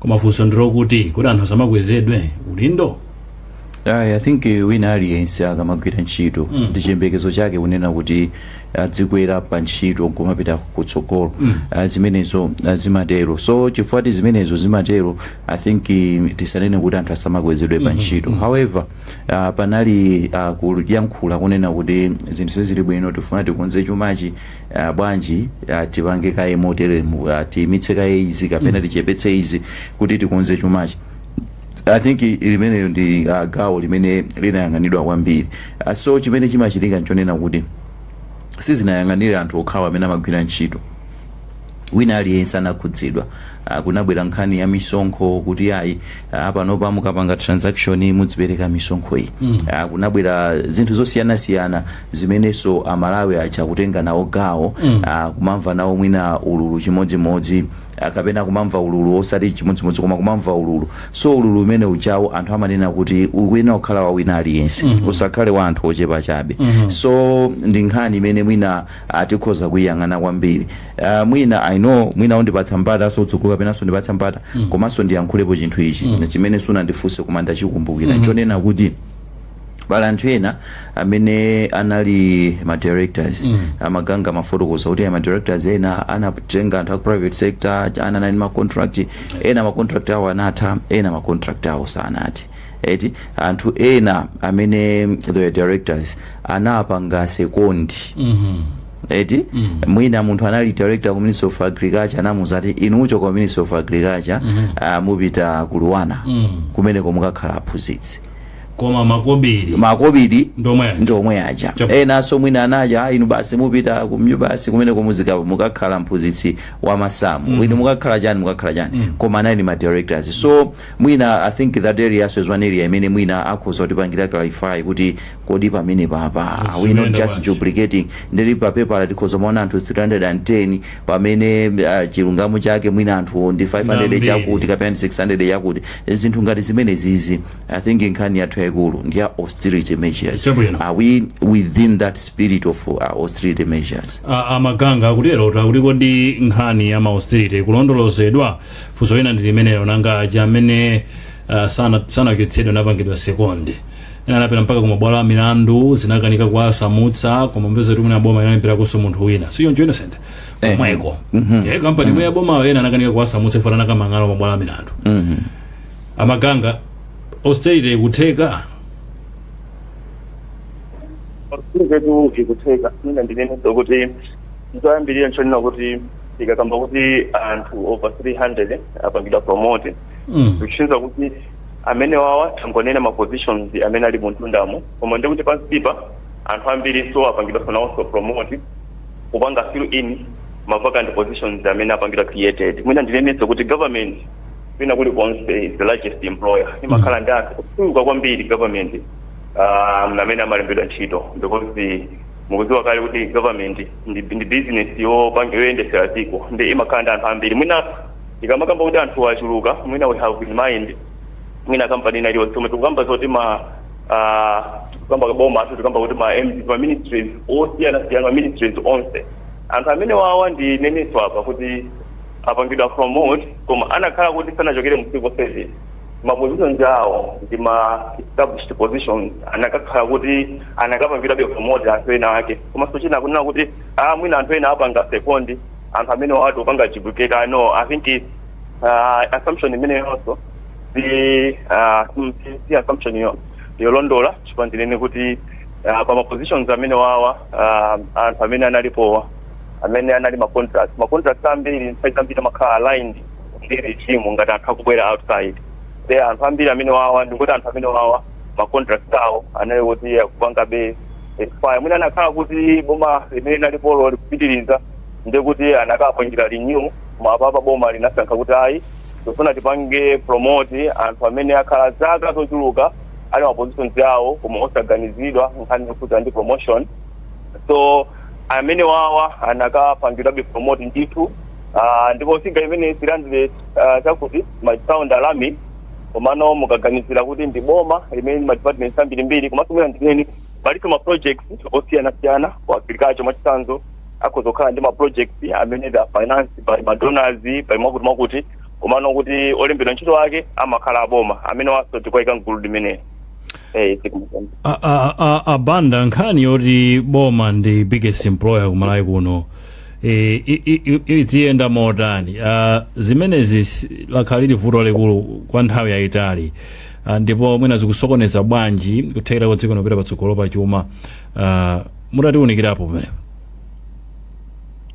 koma funso ndilokuti kuti anthu asamakwezedwe udindo Ayi, I think eh, wina aliyense akamagwira ntchito ndi chiyembekezo chake kunena kuti adzikwera pa ntchito nkumapita kutsogolo Ah, zimenezo ah, zimatero so chifukwa choti zimenezo zimatero i think eh, tisanene kuti anthu asamakwezedwe pa ntchito however ah, panali ah, kuyankhula kunena kuti zinthu sizili bwino tifuna tikonze chumachi ah, bwanji ah, tipange kaye moteremu ah, tiyimitse kaye izi kapena tichepetse izi kuti tikonze chumachi i think i- limeneyo ndi ah, gawo limene linayang'anidwa kwambiri Ah, so chimene chimachitika nchonena kuti sizinangoyang'anira anthu okhawa amene amagwira ntchito wina aliyense anakhudzidwa Ah, kunabwera nkhani ya misonkho kuti ayi ah, panopa mukapanga transaction mudzipereka misonkho iyi Ah, kunabwera zinthu zosiyanasiyana zimenenso a Malawi aja akutenga nawo gawo a, kumamva nawo mwina ululu chimodzimodzi a, kapena kumamva ululu osati chimodzimodzi koma kumamva ululu so ululu umene ujawo anthu amanena kuti ukuyenera kukhala wa wina aliyense usakhale wa anthu ochepa chabe so ndi nkhani imene mwina ah, tikhoza kuyiyang'ana kwambiri Ah, mwina i know mwina undipatsa mpata so kutsogolo kapenanso undipatsa mpata komanso ndiyankhulepo chinthu ichi chimene sunandifunse koma ndachikumbukira chonena kuti pali anthu ena amene anali ma directors mm. a Maganga amafotokoza kuti ma directors ena anatenga anthu ku private sector ena anali ma contract ena ma contract awo anatha ena ma contract awo sanathe eti anthu ena amene ndi directors anapanga second eti mwina munthu anali director ku ministry of agriculture anamuuza kuti inu muchoka ku ministry of agriculture ah, mupita ku LUANAR kumeneko mukakhala aphunzitsi koma makobidi makobidi ndi omwe aja. ndi omwe aja Chap- enanso mwina anati "Ah, inu basi mupita ku MUBAS kumeneko muzika- mukakhala mphunzitsi wa masamu inu mukakhala chani mukakhala chani koma anali ma directors so mwina i think that area so is one area imene mwina akhoza kutipangira clarify kuti Kodi pamenepa apa are we not Zikuyenda just bwanji? duplicating ndiri pa pepala tikhoza kumaona anthu 310 pamene ah, chilungamo chake mwina anthuwo ndi 500 Ambiri. chakuti kapena ndi 600 yakuti zinthu ngati zimenezizi i think nkhani yathu yayikulu ndi ya austerity measures Chabwino. are we within that spirit of uh, austerity measures A- a Maganga akutero akuti kodi nkhani ya ma austerity ikulondolozedwa funso lina ndi limenelo nanga aja amene ah, sana- sanachotsedwa anapangidwa second ena anapita mpaka ku mabwalo a milandu zinakanika kuwasamutsa koma mupeza kuti mwina boma inalemberakonso munthu wina si choncho Innocent komweko ye kampani yomwe ya bomayo ena anakanika kuwasamutsa iwo anakamang'ala ku mabwalo a milandu a Maganga austerity ikutheka zinthu zikutheka mwina ndinene kuti choyambirira nchonena kuti tikakamba kuti anthu over 300 apangidwa promote Mm. zikuchiza kuti amene wawa tangonena ma positions amene ali muntundumo koma ndikuti pansipa anthu ambiri so apangidwanso nawonso promote kupanga fill in ma vacant positions amene apangidwa created mwina ndinene kuti government kwina kuli konse is the largest employer imakhala ndi anthu kuchuluka kwambiri government um, amene amalembedwa ntchito because mukudziwa kale kuti government ndi, ndi business yopanga yoyendesera dziko ndi imakhala ndi anthu ambiri mwina Ikamakamba kuti anthuwa achuluka mwina we have in mind mwina company ina iliyonse komwe tikukamba zoti ma ah, tikukamba ka boma tikukamba kuti ma MD ma ministries osiyanasiyana ma ministries onse anthu amene wawa ndinenenso apa kuti apangidwa promote koma anakhala kuti sanachokere mu civil service ma positions awo ndi ma established positions anakakhala kuti anakapangidwabe promote anthu ena ake komanso china kunena kuti ah mwina anthu ena apanga second anthu amenewa tikupanga duplicate no I think it's, uh, assumption imeneyonso si uh, si- si- si assumption yolondola chifukwa ndinene kuti uh, pa ma positions amene wawa uh, anthu amene analipowa amene anali ma contracts ma contracts ambiri nthawi zambiri amakhala aligned ndi regime ngati anthu akubwera outside de anthu ambiri amene wawa ndikuti anthu amene wawa ma contract awo anali woti akupangabe expire mwina anakhala kuti boma limene linalipolo likupitiriza ndiye kuti anakapangidwa renew koma apapa boma linasankha kuti ayi tifuna tipange promote anthu amene akhala zaka zochuluka ali ma positions awo koma osaganizidwa nkhani yokhudza ndi promotion so amene wawa anakapangidwabe promote ndithu Ah, ndipo figure imene ilandire ah, chakuti ikusounda alarming komano mukaganizira kuti ndi boma limene madepartments ambirimbiri komanso mwina ndinene palinso ma projects osiyanasiyana ku agriculture mwachitsanzo akhoza kukhala ndi ma projects amene they are financed by madonors by mwakuti mwakuti komano kuti olembedwa ntchito ake amakhala aboma amenewanso tikuwaika mgulu limeneli eh A- a- a- abanda nkhani yoti boma ndi biggest employer kumalawi kuno E, i- i- i- idziyenda motani Ah, zimenezi si- lakhala lili vuto likulu kwa nthawi yayitali Ah, ndipo mwina zikusokoneza bwanji kuthekera kwa dziko kupita patsogolo pa chuma Ah, mutatiunikirapo pamenepo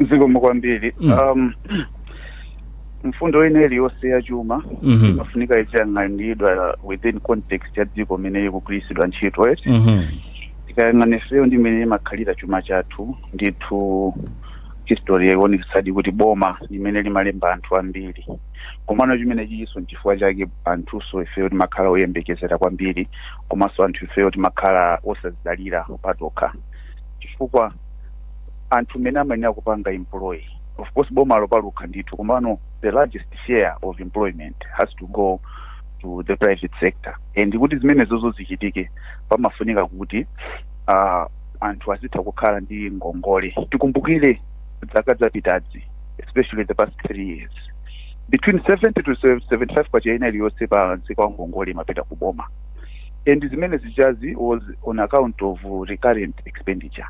zikomo kwambiri Mm. um, mfundo ina iliyonse ya chuma Mhm. imafunika iziyang'anidwa within context ya dziko imene ikugwiritsidwa ntchito eti Mhm. tikayang'ana ifeyo ndi mmene imakhalira chuma chathu ndithu history yaonetsadi kuti boma limene limalemba anthu ambiri komano chimene chichinso nchifukwa chake anthunso ifeyo timakhala oyembekezera kwambiri komanso anthu ifeyo timakhala osazidalira patokha chifukwa anthu mene amayenera kupanga employ of course boma lopalukha ndithu komano the largest share of employment has to go to the private sector and kuti zimenezozo zichitike pamafunika kuti uh, anthu azitha kukhala ndi ngongole tikumbukire zaka zapitazi especially the past three years between 70 to 75 kwacha ina iliyonse pa msika wa ngongole imapita ku boma and zimene zijazi was on account of recurrent expenditure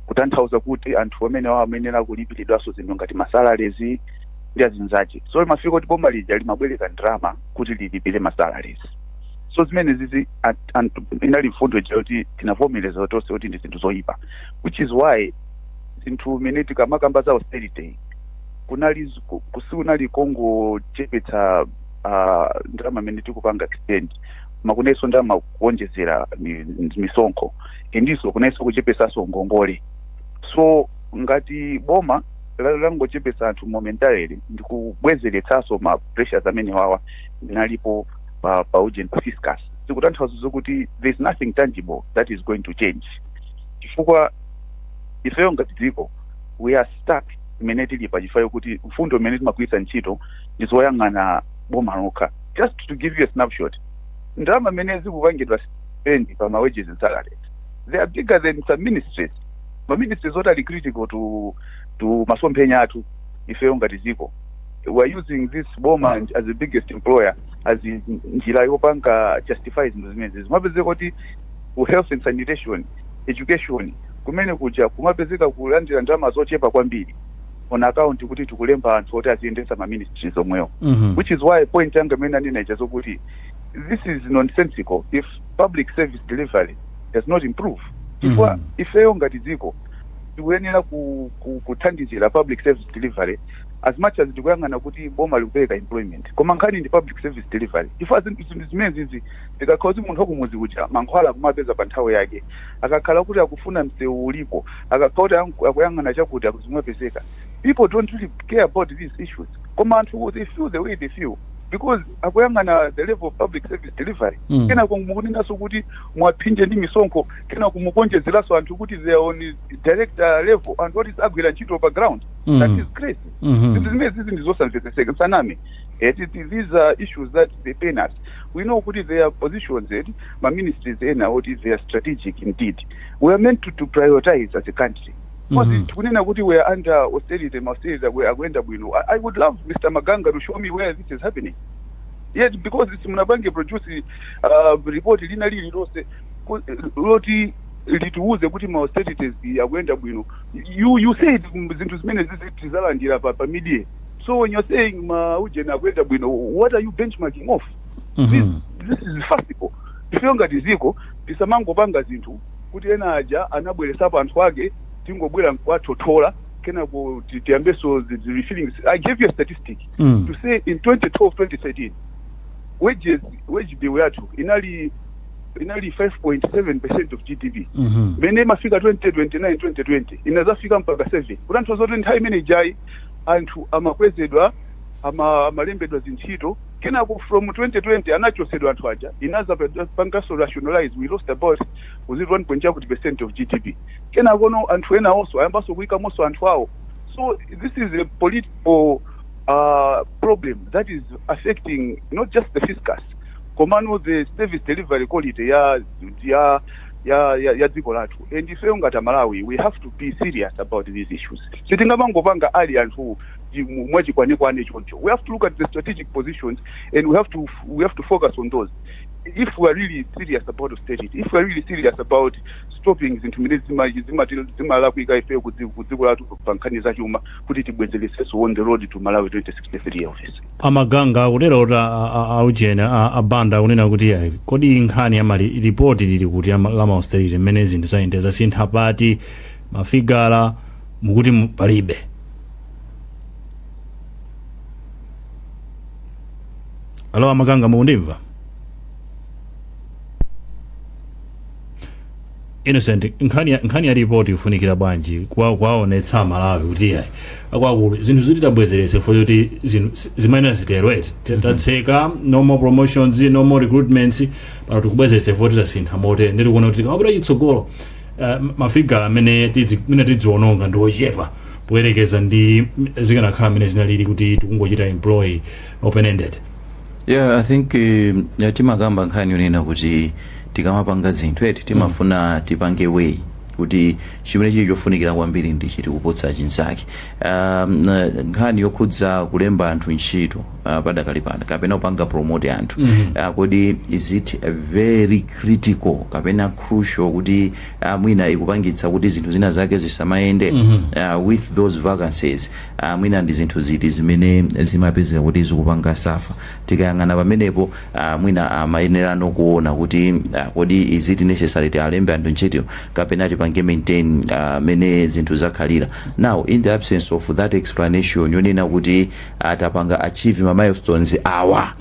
kutanthauza kuti anthu amene awo amayenera kulipiridwanso zinthu ngati masalarezi ndi azinzache so imafika kuti boma lija limabwereka ndalama kuti lilipire masalarezi so zimene zizi at- anthu inali mfundo ija yoti tinavomereza tonse kuti ndi zinthu zoyipa which is why zinthu imene tikamakamba za austerity kunali z- ku- ku- sikunali kongochepetsa uh, ndalama imene tikupanga extend koma kunalinso ndalama kuonjezera mi- misonkho and inso kunalinso kuchepesanso ngongole so ngati boma la- langochepesa anthu momentarily ndikubwezeretsanso ma pressures amene wawa analipo pa, pa urgent fiscus zikutanthauza zokuti there is nothing tangible that is going to change chifukwa ifeyo ngati dziko we are stuck mmene tilipa chifukwa chokuti mfundo zimene timagwiritsa ntchito ndi zoyang'ana boma lokha just to give you a snapshot ndalama zimene zikupangidwa spend pa ma wages and salaries they are bigger than some ministries ma ministries oti ali critical to to masomphenya athu ifeyo ngati dziko we're using this boma as the biggest employer as njira yopanga justify zinthu zimenezi zimapezeka kuti ku health and sanitation education kumene kuja kumapezeka kulandira ndalama zochepa kwambiri on account kuti tikulemba anthu oti aziyendesa ma ministries omwewo Mhm. which is why point yanga imene ndinanena ija zokuti this is nonsensical if public service delivery does not improve chifukwa Mhm. ifeyo ngati dziko tikuyenera ku- ku- kuthandizira public service delivery as much as tikuyang'ana kuti boma likupereka employment koma nkhani ndi public service delivery chifukwa zinthu zinthu zimenezizi zikakhala kuti munthu wakumudzi uja mankhwala akumapeza pa nthawi yake akakhala kuti akufuna msewu ulipo akakhala kuti aku- akuyang'ana chakuti zikumapezeka people don't really care about these issues koma anthu they feel the way they feel because akuyang'ana the level of public service delivery Mm. kenako mukunenanso kuti muwaphinje ndi misonkho kenako mukuonjezeranso anthu kuti they are on direct uh, level and not agwira ntchito pa ground Mm. that is crazy Mhm. zinthu zimene zizi ndi zosamvetseseka sanami these are issues that they pain us we know kuti there are positions eti ma ministries ena oti they are strategic indeed we are meant to, to prioritize as a country Because Mhm. tikunena kuti we are under austerity ma austerity akwe- akuyenda bwino I, i would love mr maganga to show me where this is happening yet because simunapange produce uh, report lina lili lonse ku- loti litiuze kuti ma austerities akuyenda bwino you you said mm, zinthu zimene zizi tizalandira pa pa media so when you're saying ma ujeni akuyenda bwino what are you benchmarking off this, this is farcical ifeyo ngati ziko tisamangopanga zinthu kuti ena aja anabweresapo anthu ake tingobwera nkuwathothola kenako ti- tiyambenso the the refilling i gave you a statistic Mm. to say in 2012 2013 wages wage bill yathu inali inali 5.7 percent of gdp Mhm. mene imafika 2029 2020 inazafika mpaka 7 kutanthauza kuti nthawi imene ijayi anthu amakwezedwa ama, amalembedwa zintchito kenako from 2020 anachosedwa anthu aja inaza pangaso rationalize we lost about is it 1.1 kuti percent of gdp kenako no anthu ena onso ayambanso kuyikamonso anthu awo so this is a political uh, problem that is affecting not just the fiscus komano the service delivery quality ya ya ya ya, ya dziko lathu and ifeyo ngati amalawi we have to be serious about these issues sitingamangopanga ali anthu chi- mu- mwachikwanekwane choncho we have to look at the strategic positions and we have to we have to focus on those if we are really serious about austerity if we are really serious about stopping zinthu zimene zima- zimati- zimalakwika ifeyo ku dzi- ku dziko lathu pa nkhani zachuma kuti tibwezeresenso on the road to malawi 2063 office amaganga akutera kuti a- a- a- aujeni a- abanda akunena kuti ayi kodi nkhani ya ma lipoti lili kuti ama- la mausterity mmene zinthu zayendera zasintha pati mafigala mukuti mu- palibe alo amaganga mukundimva innocent nkhani ya- nkhani ya ripoti ifunikira bwanji kwa- kuwaonetsa amalawi kuti yayi akwakulu zinthuzi titabwezerese for yoti zinthu si- zimayenera zitero eti T- tatseka no more promotions no more recruitments pano tikubwezerese for titasintha motere ndi tikuona kuti tikamapita chitsogolo eh, mafigala amene tidzi- amene tidziononga ndi ochepa poyerekeza ndi zikanakhala mmene zinalili kuti tikungochita employ open ended yeah i think um, ya timakamba nkhani yonena kuti tikamapanga zinthu eti timafuna tipange way kuti chimene chili chofunikira kwambiri ndi chiti kuposa chinzake um, na- nkhani yokhudza kulemba anthu ntchito uh, padakali pano kapena kupanga promote anthu uh, kodi is it a very critical kapena crucial kuti uh, mwina ikupangitsa kuti zinthu zina zake zisamayende uh, with those vacancies a Mwina ndi zinthu ziti zimene zimapezeka kuti zikupanga suffer? Tikayang'ana pamenepo, a mwina amayenera nokuona kuti a kodi is it necessary tialembe anthu ntchito kapena tipange maintain mmene zinthu zakhalira? Now in the absence of that explanation yonena kuti a tapanga achieve ma milestones awa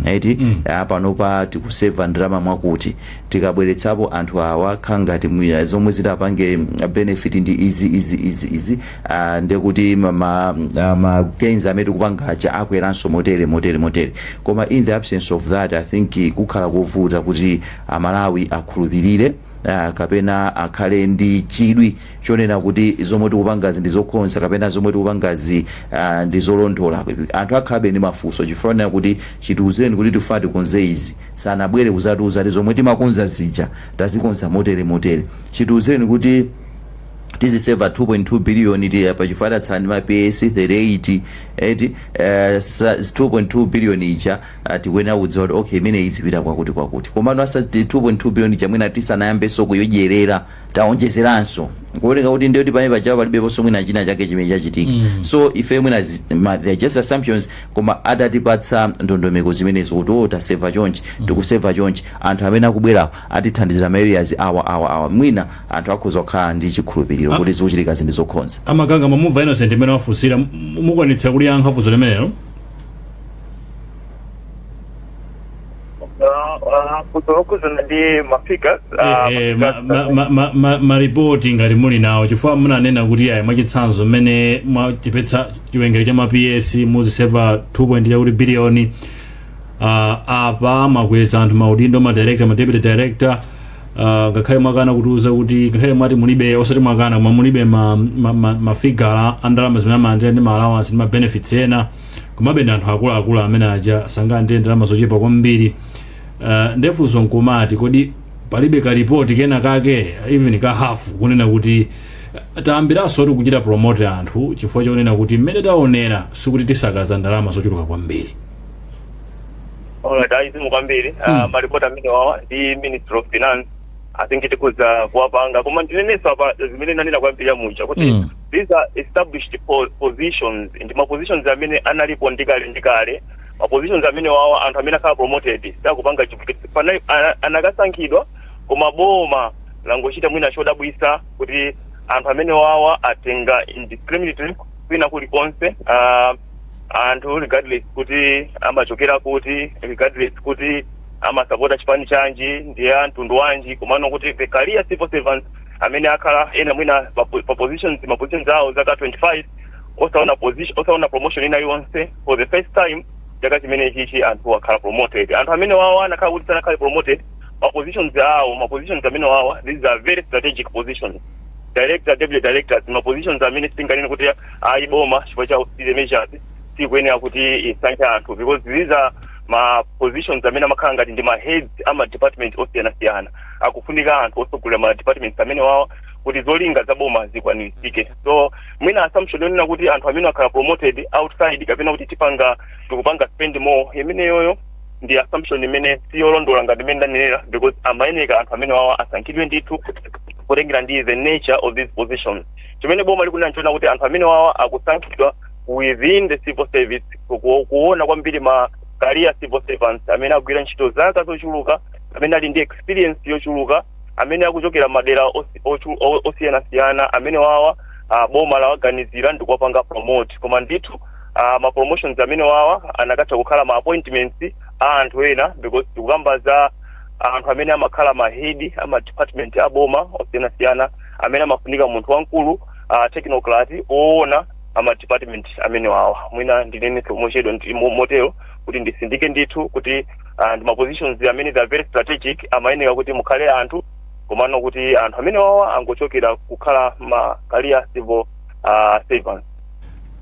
eti a panopa tikuseva ndalama mwakuti, tikabweretsapo anthu awa kukhala ngati mwina zomwe zitapange benefit ndi izi, izi, izi, izi, Ah, ndiye kuti ma, ma, ah, ma gains amene tikupanga aja akweranso motere motere motere koma in the absence of that i think eh, zikhala kovuta kuti amalawi akhulupirire ah, kapena akhale ndi chidwi chonena kuti zomwe tikupangazi ndi zokonza kapena zomwe tikupangazi ah, ndi zolondola anthu akhalabe ndi mafunso chifukwa chonena kuti chitiuzireni kuti tifuna tikonze izi sanabwere kuzatiuza kuti zomwe timakonza zija tazikonza motere motere chitiuzireni kuti tiziseva 2.2 billion eti apa chifukwa tatsala ndi ma PS 38 eti eh, sa- 2.2 billion ija ah, tikuyenera kudziwa kuti okay imene izipita kwakuti kwakuti komano a sa- 2.2 billion ija mwina tisanayambenso kuyodyerera taonjezeranso kuoneka kuti ndiyo ndi pamene paja palibeponso mwina china chake chimene chachitika so ife mwina zi- ma- they are just assumptions koma atatipatsa ndondomeko zimenezo kuti o taseva chonchi tikuseva chonchi anthu amene akubwerawo atithandiza ma areas awa awa awa mwina anthu akhoza kukhala ndi chikhulupiliro kuti zikuchitikazi ndi zokonza. A Maganga mwamumva Innocent mmene wafunsira, mu- mukwanitsa kuliyankha funso limenelo? funso lokhudzana ndi mafigures Eh, eh, ma- ma- ma- ma- ma- maripoti ngati muli nawo chifukwa munanena kuti ayi mwachitsanzo mmene mwachepetsa chiwerengero cha ma ps muziseva 2 point chakuti biliyoni uh, apa mwakweza anthu maudindo ma director ma deputy director uh, ngakhale mwakana kutiuza kuti ngakhale mwati mulibe osati mwakana koma mulibe ma, ma, ma, mafigala a ndalama zimene amalandira ndi ma allowance ndi ma benefits ena komabe ndi anthu akuluakulu amene aja sangalandire ndalama zochepa kwambiri uh, ndefunso nkumati kodi palibe ka report kena kake even ka half kunena kuti uh, tayambiranso kuti kuchita promote anthu chifukwa chonena kuti mmene taonera sikuti tisakaza ndalama zochuluka kwambiri Alright, ayi zikomo kwambiri Hmm. uh, maripoti amene wawa ndi ministry of finance i think tikhoza kuwapanga koma ndinenetse apa zimene nanena kwambiri ija muja kuti Hmm. these are established po positions ndi ma positions amene analipo ndi kale ndi kale ma positions amene wawa anthu amene akhala promoted sakupanga chifukwa kuti panali ana- anakasankhidwa koma boma langochita mwina chodabwisa kuti anthu amene wawa atenga indiscriminately kwina kulikonse uh, anthu regardless kuti amachokera kuti regardless kuti amasapota chipani chanji ndi a mtundu wanji komano kuti the career civil servants amene akhala ena mwina pa po- pa positions ma positions awo zaka 25 osaona position osaona promotion ina yonse for the first time chaka chimene chichi anthu akhala promoted anthu amene wawa anakhala kuti sanakhale promoted ma positions awo ma positions amene wawa these are very strategic positions director deputy directors ma positions amene sitinganene kuti ayi boma chifukwa cha austerity measures sikuyenera kuti isankhe anthu because these are ma positions amene amakhala ngati ndi ma heads a ma department osiyanasiyana akufunika anthu otsogolera ma departments amene wawo kuti zolinga za boma zikwaniritsike so mwina assumption yonena kuti anthu amene akhala promoted outside kapena kuti tipanga tikupanga spend more imeneyoyo ndi assumption imene si yolondola ngati mmene ndanenera because amayeneka anthu amene wawa asankhidwe ndithu kutengera ndi the nature of these positions chimene boma likunena nchonena kuti anthu amene wawa akusankhidwa within the civil service ku- ku- kuona kwambiri ma career civil servants amene agwira ntchito zaka zochuluka amene ali ndi experience yochuluka amene akuchokera madera osi- ochu- o- osiyanasiyana amene wawa ah, boma lawaganizira ndikuwapanga promote koma ndithu uh, ma promotions amene wawa anakatha kukhala ma appointments a anthu ena because tikukamba za anthu amene amakhala mahedi ama department a boma osiyanasiyana amene amafunika munthu wamkulu uh, technocrat oona ama department amene wawa mwina ndinene mochedwa ndi- mo- motero kuti ndisindike ndithu kuti uh, ndi ma positions amene they are very strategic amayeneka kuti mukhale anthu komano kuti anthu amene wawa angochokera kukhala ma career civil uh, servants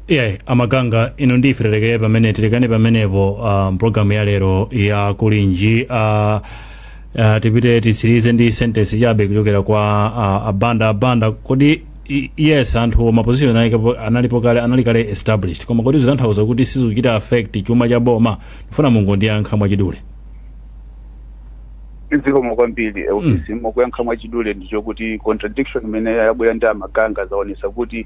iye a Maganga ino ndi ife tilekere pamene tilekane pamenepo uh, mpulogalamu ya lero ya Kulinji uh, uh, tipite titsirize ndi sentence chabe kuchokera kwa uh, a Banda a Banda kodi i- yes anthu maposition analipo- analipo kale anali kale established koma kodi zitanthauza kuti sizikuchita affect chuma cha boma ndifuna mungondiyankha mwachidule zikomo kwambiri of course mokuyankha mwachidule ndi choti contradiction imene yabwera ndi a Maganga zaonetsa kuti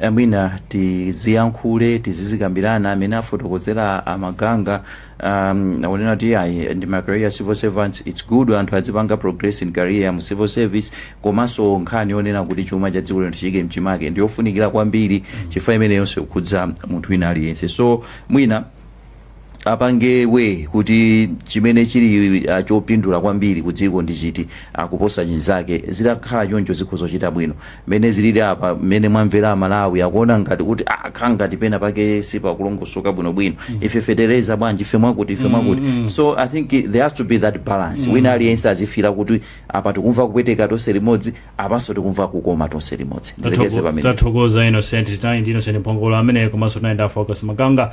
e mwina tiziyankhule tizizikambirana amene afotokozera a Maganga um, akunena kuti ayi ndi ma career civil servants it's good anthu azipanga progress in career mu civil service komanso nkhani yonena kuti chuma cha dziko lino tichiike mchimake ndiyofunikira kwambiri chifukwa imeneyonso ikhudza munthu wina aliyense so mwina apange weigh kuti chimene chili ah, chopindula kwambiri ku dziko ndi chiti ah, kuposa chinzake zitakhala choncho zikhoza kuchita bwino mmene zilili apa mmene mwamvera amalawi akuona ngati kuti ah, akhala ngati pena pake sipakulongosoka bwinobwino ife fetereza bwanji ife mwakuti ife mwakuti so i think it- there has to be that balance wina aliyense azifira kuti apa tikumva kupweteka tonse limodzi apanso tikumva kukoma tonse limodzi ndilekeze pamenepo tathokoza innocent tinali ndi innocent mphongolo amene komanso tinali ndi a Focus Maganga